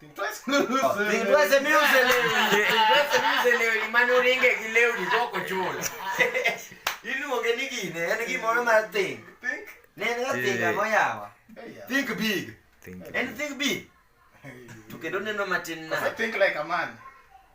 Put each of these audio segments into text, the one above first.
Think twice and lose oh, it. Think twice and lose it. Think twice and lose it. Leo imani uringe ki leo ni toko chulo. Iluonge eh, eh, ni gine, en gimoro mar think. Think? Ne en ga think ang'o yawa? Think big. Think. En think big. To kendo neno matin na. Think like a man.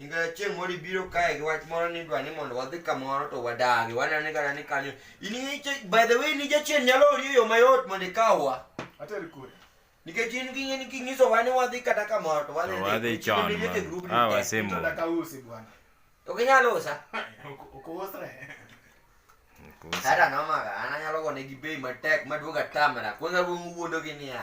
Nikech chieng' moro ibiro kae gi wach moro ni dwa ni mondo wadhi kamoro to wadagi wanene kata ni kanyo in by the way ni jachien nyalo ori e yo mayot mondo ikawwa ateri kure nikech in ging'e ni kinyiso wa ni wadhi kata kamoro to wadhi wadhi chon ah wasemo ok inyal usa ok usre hata nomaga an anyalo gone gi bei matek maduoga tamra kwanza wuondogi niya